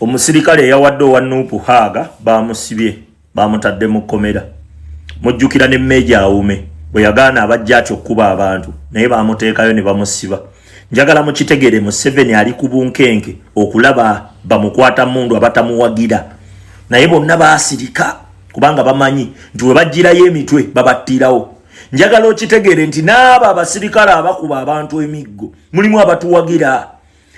Omusirikale eyawadde owa Nuupu Haaga baamusibye baamutadde mu kkomera. Mujjukira ne Meeja Awume bwe yagaana abajja atyo okukuba abantu naye baamuteekayo ne bamusiba. Njagala mukitegere Museveni ali ku bunkenke okulaba bamukwata mundu abatamuwagira naye bonna baasirika kubanga bamanyi nti we bajjirayo emitwe babattirawo. Njagala okitegere nti n'abo abasirikale abakuba abantu emiggo mulimu abatuwagira.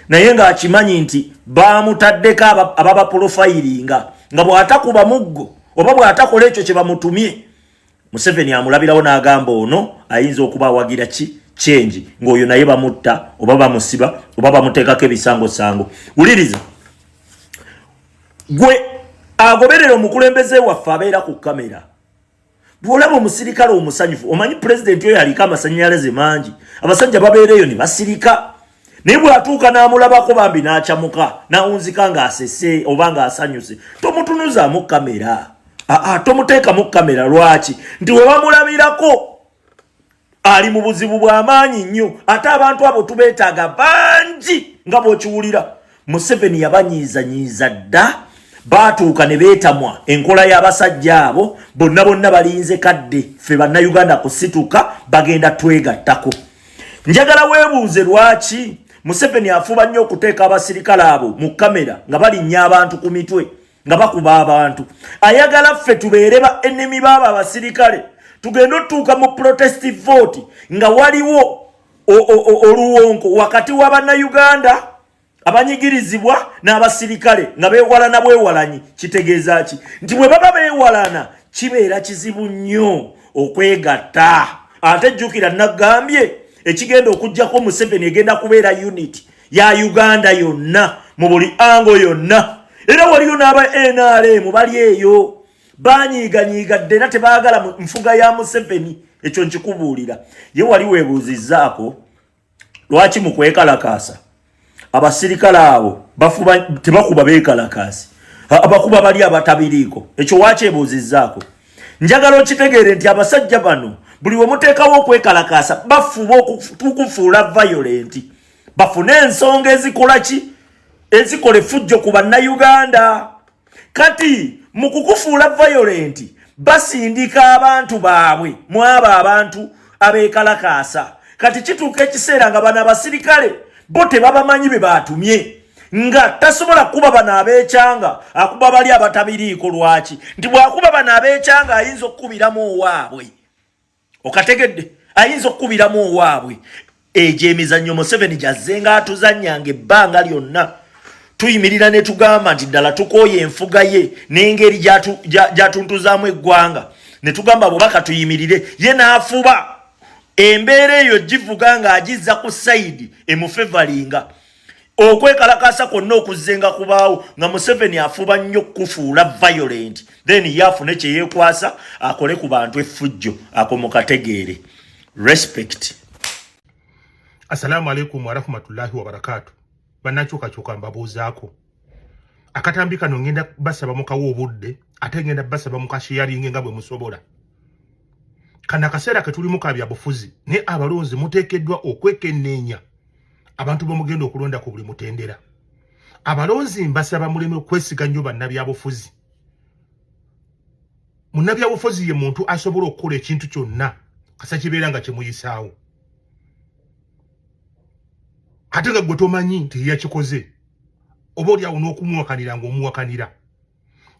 naye ng'akimanyi nti baamutaddeko ababapolofayiringa nga bw'atakuba muggo oba bw'atakola ekyo kye bamutumye museveni amulabirawo n'agamba ono ayinza okuba awagira ki kyengi ng'oyo naye bamutta oba bamusiba oba bamuteekako ebisangosango wuliriza gwe agoberera omukulembeze waffe abeera ku kamera bwolaba omusirikale omusanyufu omanyi pulezidenti oyo aliko amasanyalaze mangi abasajja babeereeyo ne basirika naye bwatuuka n'amulabako bambi n'acamuka n'awunzika ng'asese oba ng'asanyuse tomutunuzaamu kamera aa tomuteekamu kamera lwaki nti webamulabirako ali mu buzibu bw'amaanyi nnyo ate abantu abo tubeetaaga bangi nga bw'okiwulira museveni yabanyiizanyiiza dda baatuuka ne beetamwa enkola y'abasajja abo bonna bonna balinze kadde ffe bannayuganda kusituka bagenda twegattako njagala weebuuze lwaki museveni afuba nnyo okuteeka abasirikale abo mu kamera nga balinnya abantu ku mitwe nga bakuba abantu ayagala ffe tubeere ba enemi baabo abasirikale tugende otutuuka mu protest vote nga waliwo oluwonko wakati wa bannayuganda abanyigirizibwa n'abasirikale nga beewalana bwewalanyi kitegeeza ki nti bwe baba beewalana kibeera kizibu nnyo okwegatta ate jjukira nagambye ekigenda okugyako museveni egenda kubeera unit ya uganda yonna mu buli ango yonna era waliyo n'aba nrm bali eyo banyiiganyiiga dde era tebaagala nfuga ya museveni ekyo nkikubuulira ye wali weebuuzizzaako lwaki mu kwekalakaasa abasirikale abo bafuba tebakuba beekalakaasi abakuba bali abatabiriiko ekyo wakyebuuzizzaako njagala okitegeere nti abasajja bano buli wemuteekawo okwekalakaasa bafuba okukufuula violenti bafune ensonga ezikola ki ezikola efujjo ku bannayuganda kati mu kukufuula vayolenti basindika abantu baabwe mu abo abantu abeekalakaasa kati kituuka ekiseera nga bano abasirikale bo tebabamanyi be baatumye nga tasobola kuba bano abeekyanga akuba bali abatabiriiko lwaki nti bwakuba bano abeekyanga ayinza okukubiramu owaabwe okategedde ayinza okukubiramu owaabwe egyo emizannyo museveni gyazze nga atuzanyanga ebbanga lyonna tuyimirira ne tugamba nti ddala tukooye enfuga ye n'engeri gyatuntuzaamu eggwanga ne tugamba bubaka tuyimirire ye n'afuba embeera eyo givuga ng'agizza ku sayidi emufevalinga okwekalakaasa kwonna okuzzenga kubaawo nga museveni afuba nnyo kukufuula violent then ye afune kyeyekwasa akole ku bantu effujjo ako mukategeere respect assalamu alaikum warahmatullahi wabarakatu banakyukakyuka mbabuuzaako akatambi kano ngenda basaba mukawa obudde ate ngenda basaba mukasheyaringe nga bwe musobola kana akaseera ketulimu ka byabufuzi naye abalonzi muteekeddwa okwekenneenya abantu bamugenda okulonda ku buli mutendera abalonzi mbasaba muleme okwesiga nnyo bannabyabufuzi munnabyabufuzi ye muntu asobola okukola ekintu kyonna kasa kibeera nga kimuyisaawo ate nga gwe tomanyi nti yeyakikoze oba olyawo n'okumuwakanira ng'omuwakanira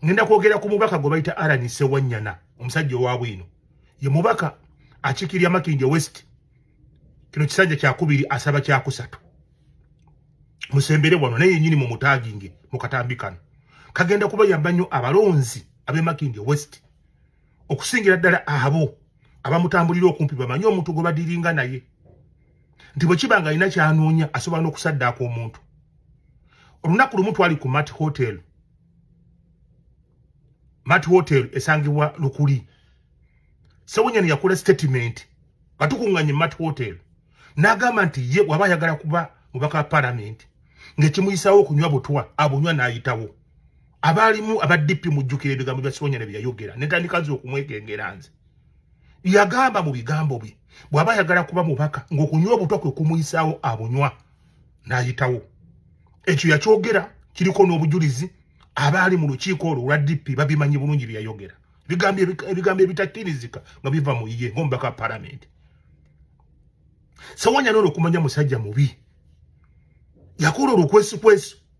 ngenda kwogera ku mubaka gwe bayita arani sewanyana omusajja owa bwino ye mubaka akikirya makindye west kino kisajja kyakubiri asaba kyakusatu musembere wano naye yenyini mu mutaginge mu katambi kano kagenda kuba yamba nnyo abalonzi ab'e makindye west okusingira ddala abo abamutambulira okumpi bamanyi omuntu gwe badiringa naye nti bwe kiba nga alina kyanoonya asobola n'okusaddaaka omuntu olunaku lumu twali ku mat hotel mat hotel esangibwa lukuli sewunyani yakola statement nga tukunganye mat hotel n'agamba nti ye waba ayagala kuba mubaka wa palamenti ng'ekimuyisawo okunywa butwa abunywa n'ayitawo abaalimu aba DP mujjukira ebigambo bya Sibonyane bye yayogera ne ntandika nze okumwekengera nze yagamba mu bigambo bye bw'aba ayagala kuba mubaka ng'okunywa obutwa kwe kumuyisaawo abunywa n'ayitawo ekyo yakyogera kiriko n'obujulizi abaali mu lukiiko olwo olwa DP babimanyi bulungi bye yayogera ebigambo ebitakkirizika nga biva mu ye ng'omubaka wa palamenti sewanyana olwo okumanya musajja mubi yakola olwo kwesikwesu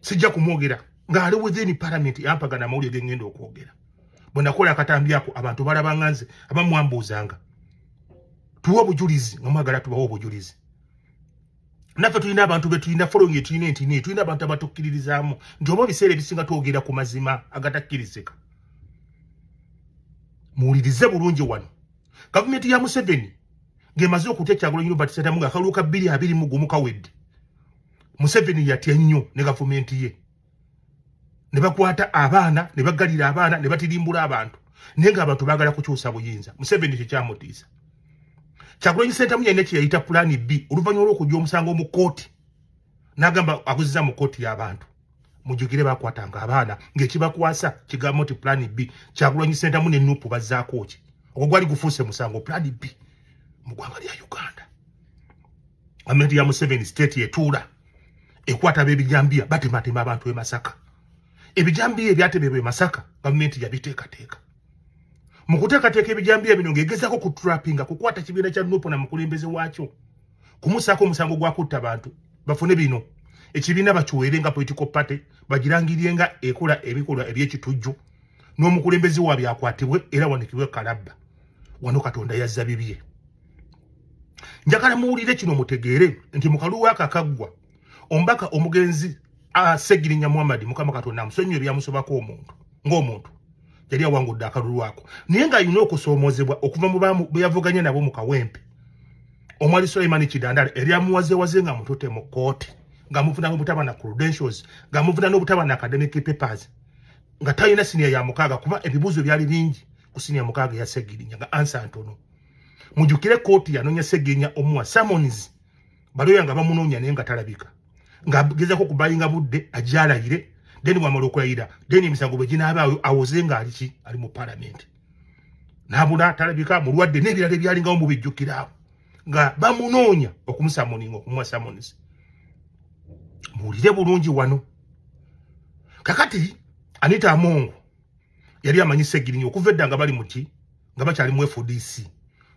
sijja kumwogera ng'ali within parliament yampagana amawulire ge ŋŋenda okwogera bwe nakola akatambi ako abantu balabanga nze aba mwambuuzanga tuwe obujulizi nga mwagala tubawe obujulizi naffe tulina abantu be tulina following etulina entini tulina abantu abatukkiririzaamu nti oba ebiseera ebisinga twogera ku mazima agatakkirizika muwulirize bulungi wano gavumenti ya museveni ng'emaze okutya kyagulanyi robert sadamu ng'akalulu ka bbiri abiri mu gumu kawedde museveni yatya nnyo ne gavumenti ye ne bakwata abaana ne bagalira abaana ne batirimbula abantu naye nga abantu baagala kukyusa buyinza museveni ekyo kyamutiisa kyagulanyi sentamu yalina kyeyayita pulaani b oluvannyuma lw'okujja omusango mu kkooti n'agamba aguziza mu kkooti y'abantu mujukire bakwatanga abaana ng'ekibakwasa kigambo nti pulani b kyakulwanyi sentamu ne nupu bazzaako ki ogwo gwali gufuuse musango pulani b mu ggwanga lya uganda gavumenti ya museveni state etuula ekwata b'ebijambiya batematema abantu e masaka ebijambiya ebyatemebwa e masaka gavumenti yabiteekateeka mu kuteekateeka ebijambiya bino ng'egezaako ku trappinga kukwata kibiina kya nupu na mukulembeze waakyo kumusaako omusango gwa kutta bantu bafune bino ekibiina bakiweere nga political party bagirangirye nga ekola ebikolwa ebyekitujju n'omukulembeze wa byakwatibwe era wanikibwe kalabba wano katonda yazza bibye njagala muwulire kino mutegeere nti mukalu wakakaggwa ombaka omugenzi asegirinya muhammad mukama katonda amusonyiwe byamusobako omuntu ng'omuntu yali awangudde akalulu ako naye nga alina okusoomoozebwa okuva mu beyavuganya nabo mu kawempe omwali suleimani kidandala eryamuwazewaze nga mutute mu kooti nga muvuna n'obutaba na credentials nga muvuna n'obutaba na academic papers nga talina siniya ya mukaaga kuba ebibuuzo byali bingi ku siniya mukaaga eya segirinya nga ansa ntono mujukire kooti yanonya segirinya omuwa summons baloya nga bamunoonya naye nga talabika ng'agezako okubayinga budde ajalayire then wamala okulayira then emisango bwe ginaabaayo awoze nga ali ki ali mu palamenti n'abula talabika mulwadde n'ebirala ebyalingawo mu bijjukiraawo nga bamunoonya okumusamoninga okumuwa samonisi muwulire bulungi wano kakati anita amongo yali amanyi segirinya okuva edda nga bali muki nga bakyali mu fdc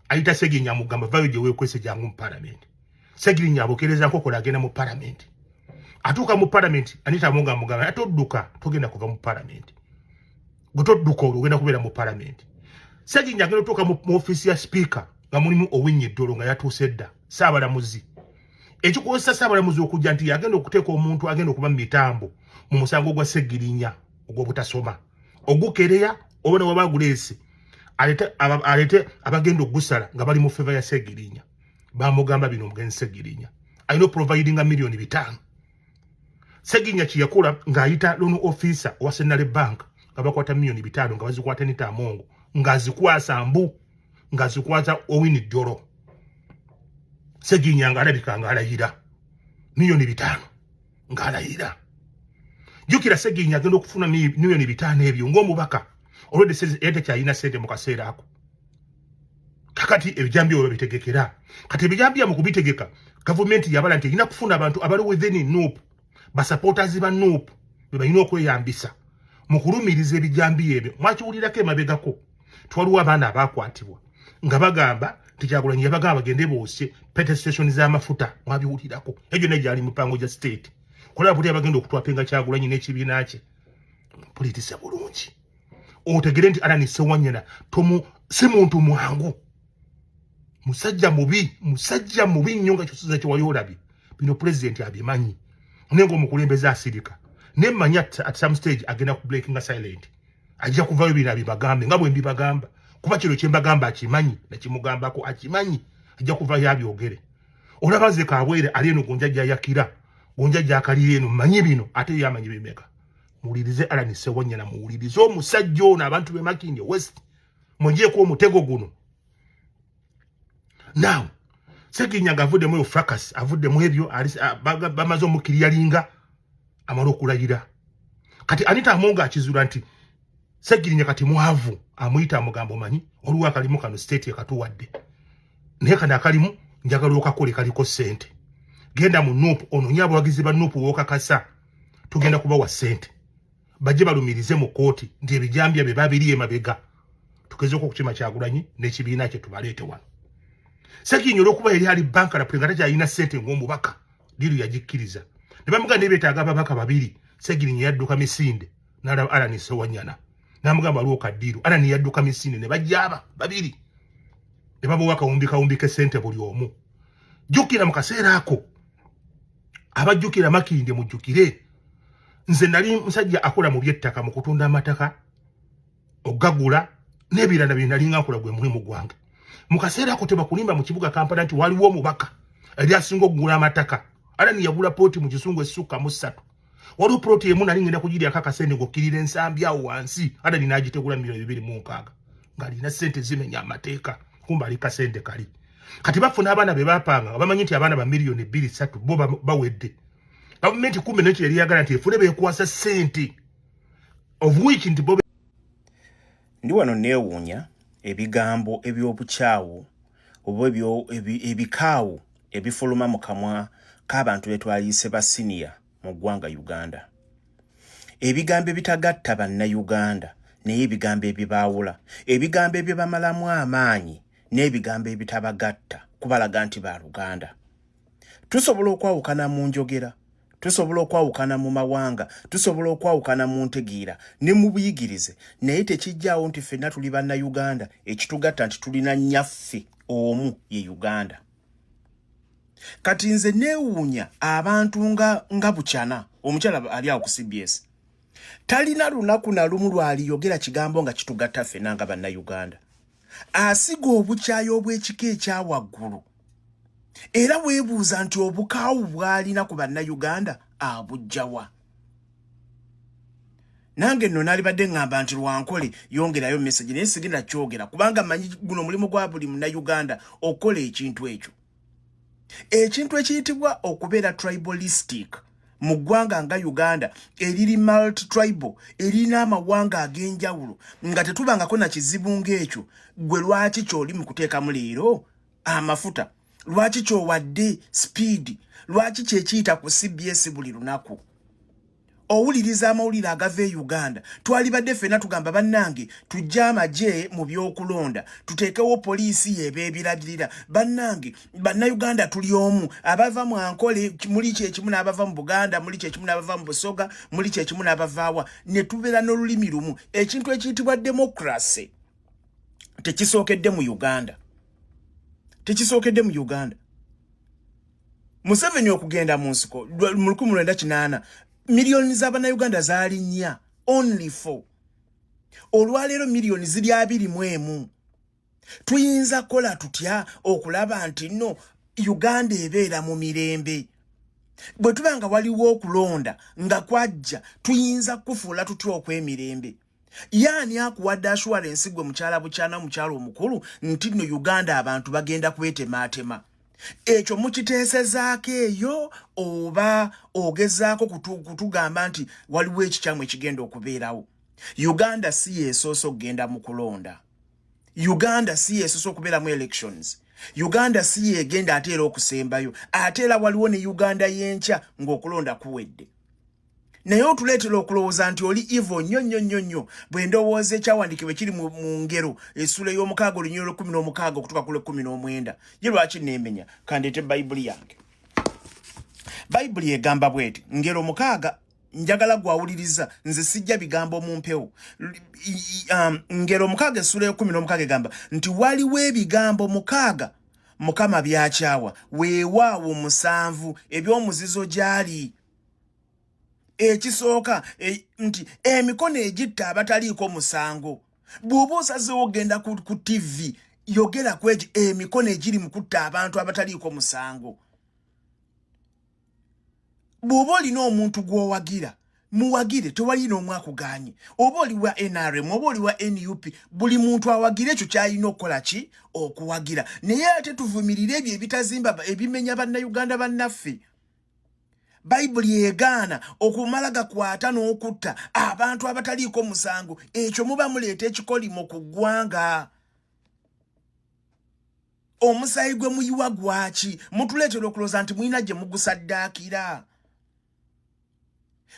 ayita segirinya amugamba vayo gye weekwese jangu mu palamenti segirinya abokereza nkokola agenda mu palamenti atuuka mu palamenti anita amunga amugamba ate odduka togenda kuva mu palamenti gwe todduka olwo ogenda kubeera mu palamenti segirinya agenda otuuka mu ofiisi ya sipiika nga mulimu owinnya eddolo nga yatuuse edda saabalamuzi ekikozesa saabalamuzi okujja nti yagenda okuteeka omuntu agenda okuba mu mitambo mu musango gwa segirinya ogwobutasoma ogukereya oba ne waba guleese alete alete abagenda okugusala nga bali mu feva ya segirinya bamugamba bino omugenzi segirinya alina oprovidinga miliyoni bitaano segirinya kyeyakola ng'ayita loan officer owa senale bank nga bakwata miliyoni bitaano nga bazikwata nitaamongo ng'azikwasa mbu ng'azikwata owini jjolo segirinya ng'alabika ng'alayira miliyoni bitaano ng'alayira jjukira seginyi agenda okufuna miliyoni bitaano ebyo ng'omubaka olwedde yali takyalina sente mu kaseera ako kakati ebijambi olwo bitegekera kati ebijambi amu kubitegeka gavumenti yabala nti erina kufuna abantu abali within nup basupporters ba nup bebalina okweyambisa mu kulumiriza ebijambi ebyo mwakiwulirako emabegako twaliwo abaana abaakwatibwa nga bagamba nti kyagulanyi yabagamba bagende boosye pete station z'amafuta mwabiwulirako egyo naye gyali mipango gya state kulaba buli abagenda okutwapenga kyagulanyi n'ekibiina kye pulitisa bulungi otegere nti alani sewanyana tomu si muntu mwangu musajja mubi musajja mubi nnyo nga kyosinza kyewali olabye bino pulezidenti abimanyi naye ngaomukulembeze asirika naye manyi at some stage agenda ku breakinga silent ajja kuvayo bino abibagambe nga bwembibagamba kuba kino kyembagamba akimanyi nakimugambako akimanyi ajja kuvayo abyogere olaba nze kabwere ali eno gonja jayakira gonja jakalira eno manyi bino ate yamanyi bimeka muwulirize alani sewanyana muwulirize omusajja ono abantu bemakindi west mujeeko omutego guno now seginyaga avuddemu eyo fracas avuddemu ebyo bamaze omukiriyalinga amala okulayira kati anita amonga akizula nti segirinya kati mwavu amuyita amugambo manyi oluwa akalimu kano state ekatuwadde naye kano akalimu njagala okakole kaliko sente genda mu nup ononye abawagizi ba nup wokakasa tugenda kubawa sente bajje balumirize mu kooti nti ebijambya bye babiri emabega tugezeeko okukima kyagulanyi n'ekibiina kye tubaleete wano sekinyi olwokuba yali ali banka lapule nga takyalina ssente ng'omubaka diru yagikkiriza ne bamugaa naye betaaga ababaka babiri segirinyi yadduka misinde nalaba alani sewanyana namugamba waliwo kadiru alani yadduka misinde ne bajjaaba babiri ne babawa kawumbi kawumbi k'essente buli omu jjukira mu kaseera ako abajjukira makinde mujjukire nze nali musajja akola mu byettaka mu kutunda amataka okugagula n'ebirala bye nali nga nkola gwe mulimu gwange mu kaseera ako tebakulimba mu kibuga kampala nti waliwo omubaka eri asinga okugula amataka ala niyagula pooti mu kisungu esukka mu ssatu waliwo poloti emu nali ngenda kugiryako akasente ng'okkirira ensambi awo wansi ala ninaagitegula mu biro bibiri mu nkaaga ngalina sente zimenya amateeka kumba ali kasente kali kati bafuna abaana be bapanga nga bamanyi nti abaana ba miliyoni bbiri satu bo bawedde gavumenti kumbe nekyo yali yagala nti efune bekwasa sente obuwiki nti bobe ndi wano neewuunya ebigambo eby'obukyawu oba ebikaawu ebifuluma mu kamwa k'abantu be twayise ba siniya mu ggwanga uganda ebigambo ebitagatta bannayuganda naye ebigambo ebibaawula ebigambo ebibamalamu amaanyi n'ebigambo ebitabagatta kubalaga nti ba luganda tusobola okwawukana mu njogera tusobola okwawukana mu mawanga tusobola okwawukana mu ntegeera ne mu buyigirize naye tekijjaawo nti ffenna tuli bannayuganda ekitugatta nti tulina nnyaffe omu ye uganda kati nze neewuunya abantu nga nga bukyana omukyala ali awo ku cbs talina lunaku na lumu lwaliyogera kigambo nga kitugatta ffena nga bannayuganda asiga obukyayi obw'ekika ekya waggulu era weebuuza nti obukaawu bwalina ku bannayuganda abujjawa ah, nange nno nalibadde ŋŋamba nti lwankole yongerayo message naye sigenda kyogera kubanga manyi guno mulimu gwa buli munauganda okukola ekintu ekyo ekintu ekiyitibwa okubeera tribalistic mu ggwanga nga uganda eriri multi tribal erina amawanga ag'enjawulo nga tetubangako na kizibu ng'ekyo gwe lwaki kyoli mu kuteekamu leero amafuta lwaki kyowadde speed lwaki kyekiyita ku cbs buli lunaku owuliriza amawulire agava e uganda twalibadde fena tugamba bannange tujje amagye mu byokulonda tuteekewo poliisi yebeebiragirira bannange bannayuganda tuli omu abava mu ankole muli kyekimu n'abava mu buganda muli kyekimu n'abava mu busoga muli kyekimu n'abavaawa ne tubeera n'olulimi lumu ekintu ekiyitibwa demokrasi tekisookedde mu uganda tekisookedde mu uganda museveni okugenda mu nsiko mu lukumi lwenda kinaana miliyoni z'abanauganda zaali nnya only four olwaleero miliyoni ziri abiri mu emu tuyinza kukola tutya okulaba nti no uganda ebeera mu mirembe bwe tuba nga waliwo okulonda nga kwajja tuyinza kukufuula tutya okw'emirembe yaani akuwadde assurance gwe mukyala bukyana mukyala omukulu nti no uganda abantu bagenda kwetemaatema ekyo mukiteesezaako eyo oba ogezaako kutugamba nti waliwo ekikyamu ekigenda okubeerawo uganda si yesoose okugenda mu kulonda uganda si yesoose okubeeramu elections uganda si yegenda ate era okusembayo ate era waliwo ne uganda yenkya ng'okulonda kuwedde naye otuleetera okulowooza nti oli ivo nnyo nnyo nnyo nnyo bwe ndowooza ekyawandiikibwa ekiri mu ngero esuula ey'omukaaga olunyulo lw'ekkumi n'omukaaga okutuka ku lw'ekkumi n'omwenda ye lwaki neemenya kandeete bayibuli yange bayibuli egamba bweti ngero mukaaga njagala gwawuliriza nze sijja bigambo mu mpewo um, ngero mukaaga esuula y'ekkumi n'omukaaga egamba nti waliwo ebigambo mukaaga mukama byakyawa weewaawo musanvu eby'omuzizo gyali ekisooka e, nti emikono egitta abataliiko musango bw'oba osazeewo ogenda ku, ku tv yogera ku egyo emikono egiri mu kutta abantu abataliiko musango bw'oba olina omuntu gw'owagira muwagire tewali n'omu akuganye oba oli wa nrm oba oli wa nup buli muntu awagira ekyo kyalina okukola ki okuwagira naye ate tuvumirire ebyo ebitazimba ebimenya bannayuganda bannaffe bayibuli egaana okumala gakwata n'okutta abantu abataliiko musango ekyo muba muleeta ekikolimo ku ggwanga omusaayi gwe muyiwa gwaki mutuleetera okulooza nti mulina gye mugusaddaakira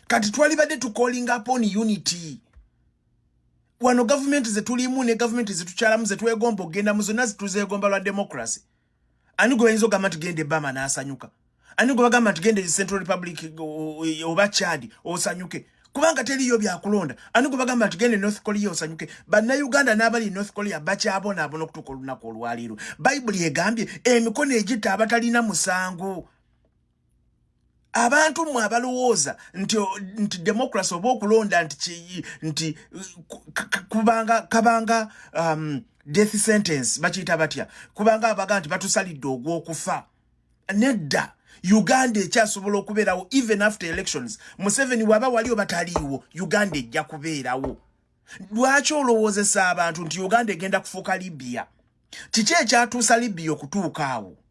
kati twalibadde tukolinga pon unity wano gavumenti zetulimu ne gavumenti zetukyalamu zetwegomba okugenda mu zonna zituzeegomba lwa democracy ani gwe bayinza ogamba nti genda ebama n'asanyuka ani gwe bagamba nti genda e central republic oba chad osanyuke kubanga teriyo byakulonda ani gwe bagamba nti genda e north korea osanyuke bannayuganda n'abali e north korea bakyabonaabona okutuuka olunaku olwaliiro bayibuli egambye emikono egitta abatalina musango abantu mwe abalowooza nti nti democracy oba okulonda nti ki nti kubanga kabanga um, death sentence bakiyita batya kubanga abaga nti batusalidde ogw'okufa nedda uganda ekyasobola okubeerawo even after elections museveni waba wali oba taliiwo uganda ejja kubeerawo lwaki olowoozesa abantu nti uganda egenda kufuuka libya kiki ekyatuusa libya okutuuka awo